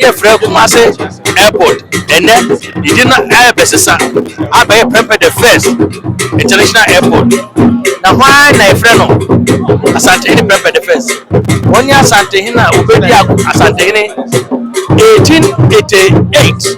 yɛfrɛ Kumasi Airport ɛnɛ yɛde no ɛrebɛsesa abɛyɛ Prempeh the First International Airport na hwan na yɛfrɛ no Asantehene Prempeh the First wɔn ne Asantehene a wɔbɛdi Asantehene 1888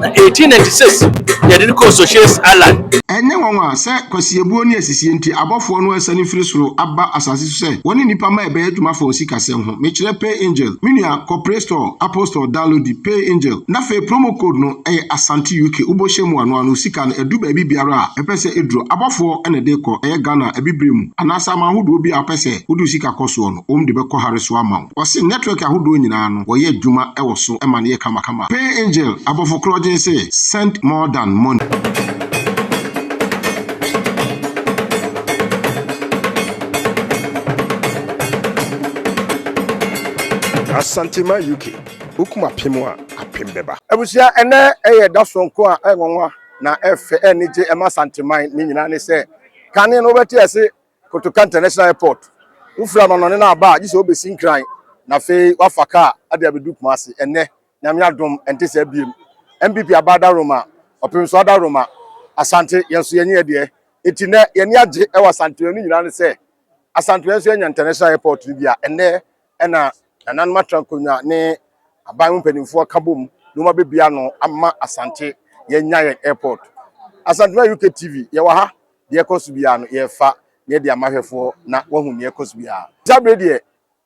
na 1896 yɛde no kɔɔ Socias Island Ɛnyɛ nwanwa sɛ kwasiebuo ne asisie nti abɔfoɔ no asiane firi soro aba asase so sɛ wɔne nnipa mma rebɛyɛ adwuma afa wɔn sikasɛm ho. Mekyerɛ Pay Angel, me nua kɔ Play Store Apostol downloadi Pay Angel na afei promo code no ɛyɛ Asante UK wobɔhyɛ mu a no ano sika no ɛdu baabi biara a ɛpɛ sɛ ɛduro abɔfoɔ na ɛde kɔ ɛyɛ Ghana abibire mu anaasɛ aman ahodoɔ bi a wopɛ sɛ wode wo sika kɔ soɔ no wɔn de bɛkɔ hare so ama wo wɔse network ahodoɔ nyinaa no wɔyɛ adwuma wɔ so ma no yɛ kamakama Pay Angel abɔfo korɔ gyen se send more than money. Asantema UK, Wo kum apem a, apem bɛba. Abusua, ɛnnɛ yɛ da soronko a ɛyɛ nwanwa na ɛyɛ fɛ, ɛyɛ anigye ma Asanteman. Ne nyinaa ne sɛ, kane no wobɛte ase Kotoka International Airport. Wofiri amanɔne no aba a, gye sɛ wobɛsi Nkran na afei woafa kaa de abɛdu Kumasi. Ɛnnɛ, Nyame adom, ɛnte saa biom. NPP aba adaworoma, ɔpem so adaworoma. Asante, yɛn nso yɛnyɛ yɛ deɛ. Enti nnɛ, yɛn ani agye wɔ Asanteman. Ne nyinaa ne sɛ, Asantewaa nso anya International Airport no bi a ɛnnɛ na nananom atra nkonnwa ne aban mu mpanimfoɔ ka bom na wɔabɛbie ano ama Asante yɛanya yɛn airport. Asantewaa UK TV, yɛwɔ ha. Deɛ ɛkɔ so biara no, yɛrefa na yɛde ama ahwɛfoɔ na wɔahu deɛ ɛkɔ so biara. Saa berɛ deɛ,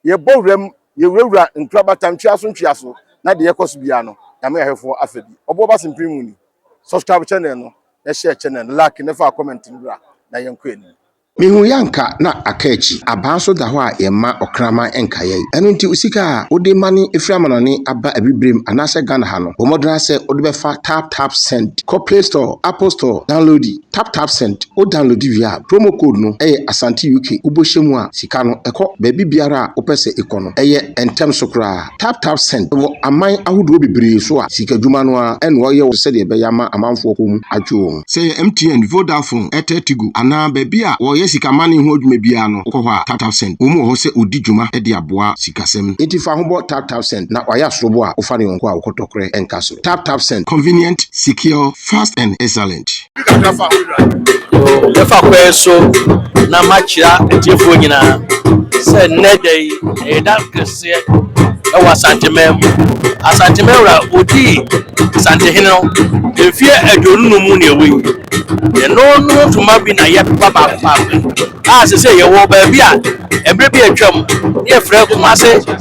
yɛbɔ wura mu, yɛwurawura ntorabata ntwea so ntwea so na deɛ ɛkɔ so biara no, yɛama ahwɛfoɔ afa bi. Ɔboɔ ba Simpim mu ni. Subscribe channel no na hyɛ channel no like na fa comment no bra na yɛnkɔ anim. Mehu yɛ anka na aka akyi. Abaa nso da hɔ a yɛmma ɔkraman nka yɛn. Ɛno nti wo sika a wode mane firi amanɔne aba abibirem anaasɛ Ghana ha no, bɔ mmɔden ara sɛ wode bɛfa Tap Tap Send. Kɔ Play Store, Apple Store, downloadi Tap Tap Send. Wo downloadi wie a, promo code no yɛ Asante UK. Wobɔ hyɛ mu a, sika no kɔ baabi biara a wopɛ sɛ ekɔ no. Ɛyɛ ntɛm so koraa. TapTap Send wɔ aman ahodoɔ bebree so a sikadwuma no ara na wɔyɛ wɔ so sɛdeɛ ɛbɛyɛ ama amanfoɔ kɔn mu atwe wɔn. Sɛ ɛyɛ MTN, Vodafone, Airtel Tigo anaa baabi a wɔyɛ sikamane ho adwuma biara no wokɔ hɔ a, TapTap Send wɔn wɔ hɔ sɛ wɔdi dwuma de aboa sikasɛm. Enti fa ho bɔ TapTap Send na wayɛ asorobo a wofa ne yɔnko a wokɔtɔ korɛ nka so. TapTap Send. Convenient, secure, fast and excellent. yɛfa kwan so na makyerɛ atiefoɔ nyinaa sɛ nnɛ da yi ɛyɛ da kɛseɛ ɛwɔ asanteman mu asanteman wura odii asantehene no mfeɛ aduonu no mu na ɛwɔ yi ɛno no ntoma bi na yɛpepa baako baako a sɛ sɛ yɛwɔ baabi a ɛberɛ bi atwam ne yɛfrɛ kumase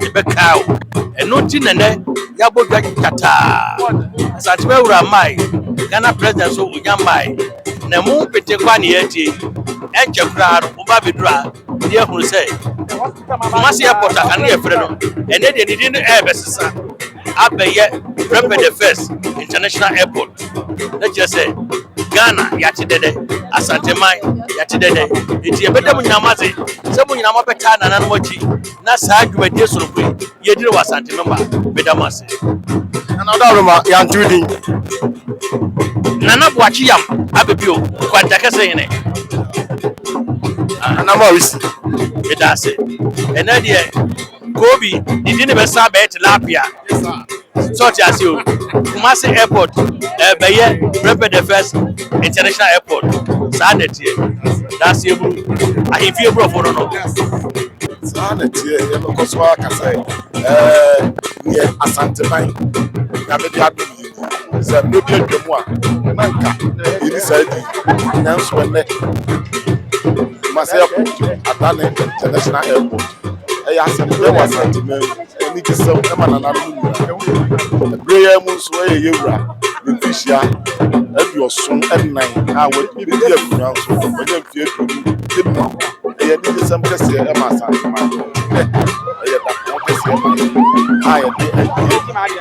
de bɛkaa wo. Ɛno nti na nɛ yɛabɔ dwa kyataa. Asantewaa awura mae, Ghana President so onya mae. Na ɛmo mpete kwa ne yɛatie yi, ɛnkyɛ koraa no moba abɛduru ha ne yɛahunu sɛ Kumasi Airport a kane yɛfrɛ no, ɛnɛ deɛ ne din no ɛrebɛsesa abɛyɛ Prempeh the First International Airport. Na kyerɛ sɛ Ghana yɛate dɛdɛ, Asanteman yɛate dɛdɛ. Nti yɛbɛda mo nyinaa mo ase sɛ mo nyinaa moabɛtaa nananom akyi. na saa dwumadie sononko yi yɛdi no wɔ Asante Mem a, meda mo ase. Nana Ɔdaworo ma yɛanto wo din. Nana Boakye Yam abɛbi o, Kwantakɛse hene. Nana Mawisi. Meda ase. Ɛnɛ deɛ Kobi, ne din bɛsan abɛyɛ Tilapia. So ɔte ase o. Kumasi airport ɛbɛyɛ Prempeh the first international airport. Saa na ɛteɛ. Danseɛ buru. Ahemfie borɔfo no no. Saa na ɛteɛ. Yɛbɛkɔ so ara aka sɛ ɛɛ yɛ Asanteman. Nyame de adom. sɛ mmerɛ bi atwa mu a na nka yɛni saa di nanso ɛnɛ masɛ airport adane international airport ɛyɛ asɛm dɛ wɔ asanteman mu ɛne gye sɛm ɛma nananom nyina berɛ yɛ mu nso ɛyɛ yɛwura ne mfihyia aduɔson ɛnan a wɔdi akonnwa nso wɔnyɛ mfeɛ aduonu ɛmu ɛyɛ ne gye sɛm kɛseɛ ɛma asanteman ɛyɛ dapɔn kɛseɛ ma yɛ a yɛde ɛdeɛ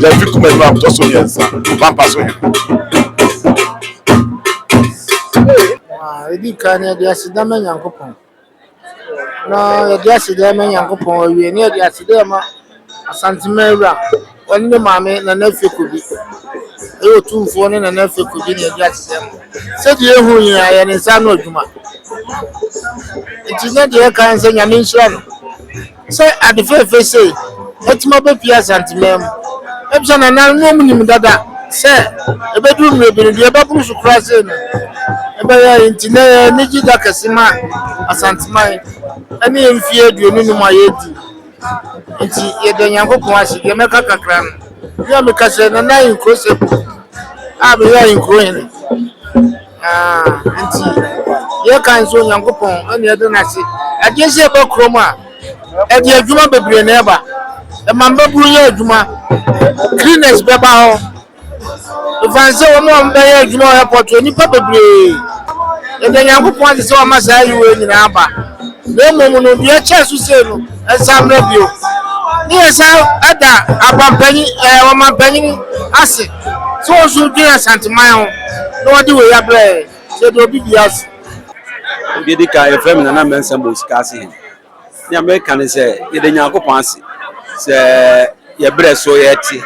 Gyamfi Kumah Nnuam tɔ so mmiɛnsa, Pampa so he. Yɛdi kan no yɛde aseda ma Nyankopɔn na yɛde aseda ma Nyankopɔn awie na yɛde aseda ma Asantema awura ɔne ne maame Nana Afie Kobi ɛyɛ otumfoɔ ne Nana Afie Kobi na yɛde aseda mu sɛdeɛ ehu nyinaa yɛ ne nsa ano adwuma nti na deɛ ɛka sɛ Nyame nhyira no sɛ ade fɛfɛ sei atumi aba fie Asanteman mu. Ebisa nananom no ɔmo nim dada sɛ ɛbɛduru mmerɛ bi no deɛ ɛbɛboro so koraa sei no ɛbɛyɛ yɛn nti ɛnɛ yɛ anigye da kɛse ma Asanteman ɛne yɛn mfie aduonu num a yɛadi nti yɛda Nyankopɔn ase deɛ mɛka kakra no mea meka sɛ Nana Ahenkuro Seku a meyɛ Ahenkuro hene. Enti yɛka nso Onyankopɔn na yɛde no ase. Agye sɛ ɛba kurom a, ɛde adwuma bebree na ɛba. Ɛma mmabunu yɛ adwuma, cleaners bɛba hɔ. Ɛfane sɛ wɔn a wɔbɛyɛ adwuma wɔ airport hɔ, nnipa bebree. Yɛde Onyankopɔn ase sɛ wama saa ayi wei nyinaa aba. Na mmom no, deɛ ɛkyɛ so sei no, ɛnsan mmra bio. Ne yɛsan da abampanin ɛɛ ɔmampanin ase. Sɛ wo so dwen Asanteman ho na wɔde wei abrɛ yɛn, hyɛ deɛ obi dua so. Deɛ ɛdi kan, yɛfrɛ me Nana Mensah Mosika ase he. Nea meka ne sɛ, yɛda Nyankopɔn ase sɛ yɛ berɛ so yɛte,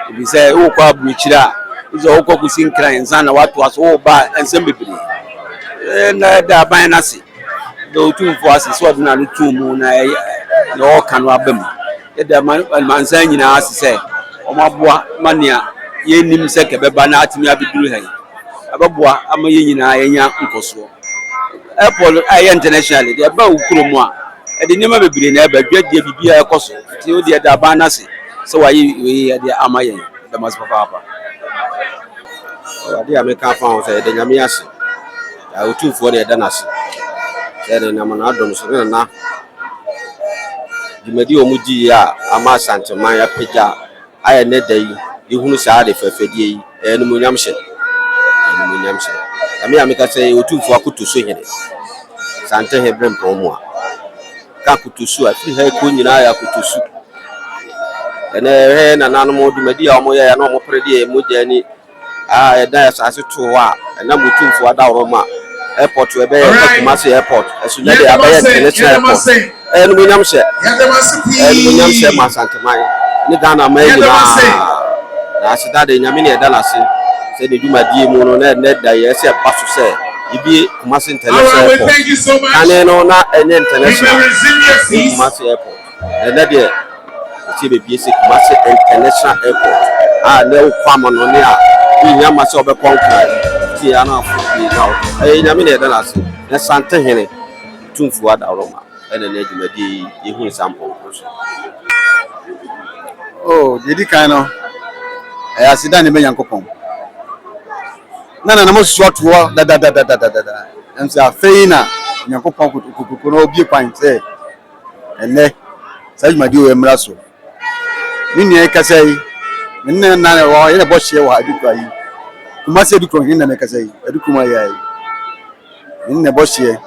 firi sɛ wokɔ aburokyire a, gye sɛ wokɔ kɔsi nkran ansa na woatoa so, woba a nsɛm bebree. Yɛda aban no ase. da Otumfoɔ ase sɛ ɔde n'ano too mu na ɛyɛ na ɔreka no aba mu. Yɛda amansan nyinaa ase sɛ wɔaboa ma nea yennim sɛ ka ɛbɛba no atumi abeduru ha yi. Ɛbɛboa ama yɛn nyinaa yɛanya nkɔsoɔ. Airport a ɛyɛ international deɛ ɛba wo kurom a, ɛde nneɛma bebree na ɛba, dwadie, biribiara ɛkɔ so. Nti wo deɛ yɛda aban no ase sɛ wɔayɛ wei yɛ de ama yɛn. Yɛda mo ase papaapa. Adeɛ a mɛka afa ho sɛ yɛda Nyame ase. Yaa Otumfoɔ na yɛda no ase sɛ na ɛnam n'adom so ne nana dwumadi a wɔdi yi a ama Asanteman apagya ayɛ ne da yi yɛhunu saa ade fɛfɛdeɛ yi ɛyɛ animuonyam hyɛ animuonyam hyɛ ɛme a meka sɛ yɛ Otumfoɔ akoto so hene sante he bere mpɔn mu a ka akoto so a firi ha ɛkɔ nyinaa yɛ akoto so ɛnɛ ɛhɛ nananom dwumadi a wɔyɛ ya na wɔpere deɛ mogya ni a ɛda asase too hɔ a ɛnam Otumfoɔ Adaworo ma airport a ɛbɛyɛ sɛ Kumasi airport ɛso nyɛ de abɛyɛ international airport ɛyɛ animuonyam hyɛ ɛyɛ animuonyam hyɛ ma Asanteman ne Ghana man nyinaa na aseda de Nyame ne ɛda n'ase sɛ ne dwumadie mu no na ɛnɛ da yɛ sɛ ɛba so sɛ yɛbie Kumasi international airport kane no na ɛnyɛ international Kumasi airport Ɛnnɛ deɛ ɛsɛ bɛbie sɛ Kumasi International Airport a na ɛwɔ kwan mu no ne a wonya ma sɛ wobɛkɔ nkran nti yɛ na afo pii na wɔ ɛyɛ nyame na ɛda no ase na sante hene tumfuo adaworo ma ɛna ne adwumadie yi yɛhu ne saa mpɔnkɔ so o oh, deɛ di kan no ɛyɛ aseda ne bɛ nyankopɔn na nanam asusu atoɔ dadadadadadada ɛm sɛ afei na nyankopɔn kotokotokono obie kwan sɛ Ɛnnɛ, saa dwumadi yi wɔ yɛn mmara so. Me nua yi kasa yi, me ne no nna wɔ hɔ, yɛn na ɛbɔ hyeɛ wɔ ha Adukura yi. Kumasi Adukura hene na mɛkasa yi, Adukuma yɛ yi. Yɛn na ɛbɔ hyeɛ.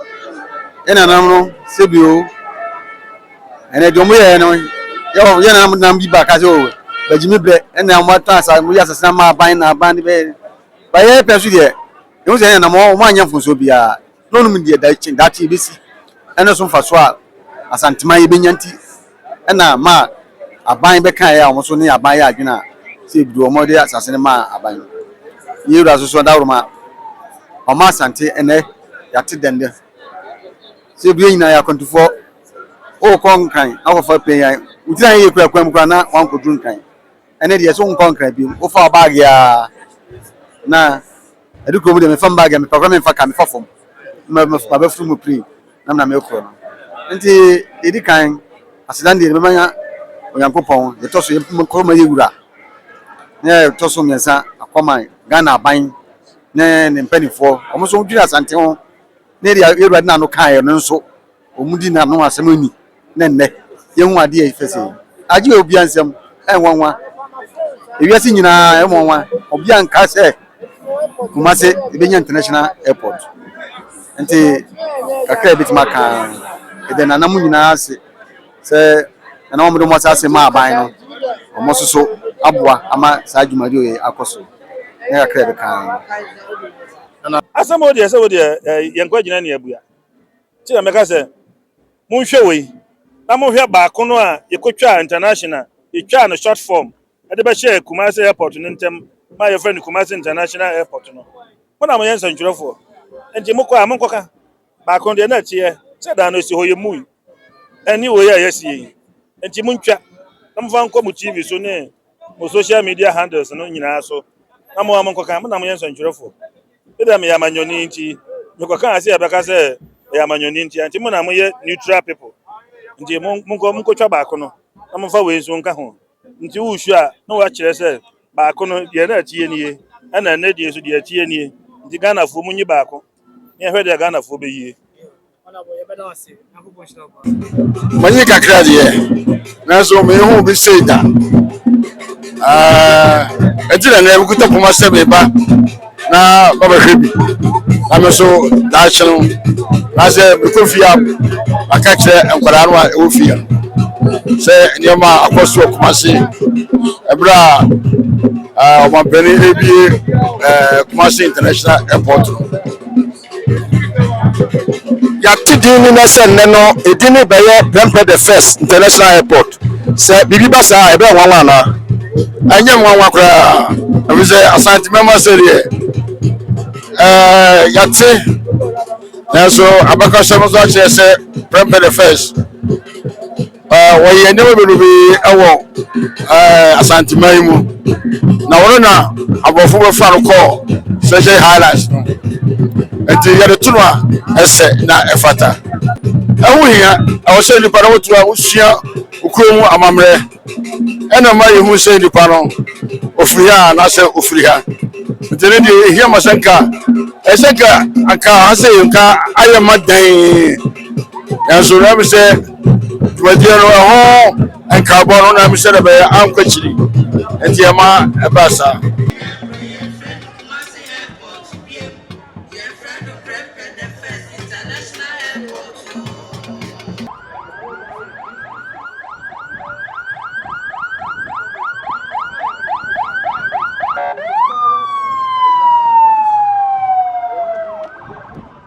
Yɛn nanam no, sɛbi o, ɛnna deɛ wɔn yɛɛ no, yɛn nanam nam bi ba ka sɛ o, bagyimi brɛ, ɛnna wɔn ata asa, wɔn yɛ asase ama aban na aban de bɛyɛ. Bayɛ pɛ nso deɛ, yɛn sɛ yɛn nanam wɔn anyɛ mfonso biara. na ɔnim deɛ daakye daakye yɛbɛsi ɛne so mfasoɔ a Asanteman yɛbɛnya nti ɛna ma aban bɛkaeɛ a wɔn nso ne aban yɛ adwene a sɛ ɛduru hɔ wɔde asase no ma aban no. Yei wura so so Dawuroma ɔma Asante ɛnɛ yɛate dɛndɛn sɛ ɛduru yɛn nyinaa yɛ akwantufoɔ wokɔ Nkran na wɔkɔfa panyan wotiri ayɛ yɛ kura kwan mu kura na wankɔduru Nkran ɛne deɛ sɛ wonkɔ Nkran bio wofa wo baage a na Ɛde kurom deɛ mefa me baage a mepɛ koraa memfa car mefa fam na mabɛforo mu prii na mena merekɔ no nti deɛ ɛdi kan asedan deɛ mɛma nya Onyankopɔn deɛ ɛtɔ so yɛnkɔ ma yɛ wura na yɛ ɛtɔ so mmiɛnsa akɔ ma Ghana aban ne ne mpanimfoɔ wɔn nso wɔdwiri Asante ho na yɛde yɛ Awurade na ano kaeɛ no nso Wɔn di na no asɛm ni na nnɛ yɛhu ade a ɛyɛ fɛ sɛɛ yi. Agye obia nsɛm ɛnwanwa ewiase nyinaa ɛnwanwa obia nka sɛ Kumase ebenya international airport nti kakra ebetumi aka ɛdɛ nana mu nyinaa ase sɛ nana wɔn de wɔn asase ma aban no wɔn nso so aboa ama saa dwumadi yɛ akɔ so ne kakra ɛbɛka. Asɛm o deɛ sɛ o deɛ yɛnkɔ agyina ne abua. Nti na meka sɛ, Monhwɛ wei, na monhwɛ baako no a yɛkɔtwaa International, yɛtwaa no short form de bɛhyɛɛ Kumasi Airport no ntam ma yɛfrɛ no Kumasi International Airport no. Mo na moyɛ nsɛntwerɛfoɔ, nti mokɔ a monkɔka. Baako no deɛ na ɛteɛ sɛ da a na ɛsi hɔ yɛmmui, ɛne wei a yɛasi yɛ yi. Nti montwa na momfa nkɔ mo TV so ne mo social media handles no nyinaa so na mo ara monkɔka. Mo na moyɛ nsɛntwerɛfoɔ. Ebia meyɛ amanyɔni nti mekɔka ase a ɛbɛka sɛ ɛyɛ amanyɔni nti nti mo na moyɛ neutral people nti monkɔ monkɔtwa baako no na momfa wei nso nka ho nti wosu a na woakyerɛ sɛ baako no deɛ na atie nie ɛna ɛnɛ deɛ nso deɛ atie nie nti Ghanafoɔ monyi baako ne ɛhwɛ deɛ Ghanafoɔ bɛyie Manyi kakra deɛ nanso mehu bi sei da ɛti na nɛɛ mekuta poma sɛ meba na babɛhwɛ bi na me so daakye no nasɛ mekɔ fie a maka kyerɛ nkwadaa no a ɛwɔ fie no sɛ nneɛma a akɔ so akoma se ɛberɛ a ɔmampani ɛbie kuma se international airport no Yɛate din no nnɛ sɛ nnɛ no edin no rebɛyɛ Prempeh the First International Airport. Sɛ biribi ba saa a, ɛbɛyɛ nwanwa anaa? Ɛnyɛ nwanwa koraa, efisɛ Asante mɛma sɛ deɛ ɛɛ yɛate nanso abakɔsɛm nso akyerɛ sɛ Prempeh the First. Wɔyɛ nneɛma bebrebe wɔ Asanteman yi mu, na wɔno na aborɔfo bɛfa no kɔɔ Treasure Highlands no. Nti yɛde to no a, ɛsɛ na ɛfata. Ɛho hia, ɛwɔ sɛ nnipa no wotu a wosua kurow mu amammerɛ. Ɛna ma yehu sɛ nnipa no ofiri ha anaasɛ ofiri ha. Nti ne deɛ ehia ma sɛ nka ɛsɛ nka anka ha sɛ nka ayɛ ma dan. nanso na mi sɛ dwumadie no ɛho nkaabɔ no na mi sɛ dɛ bɛyɛ ankɔ akyiri nti ɛma ɛbaa saa.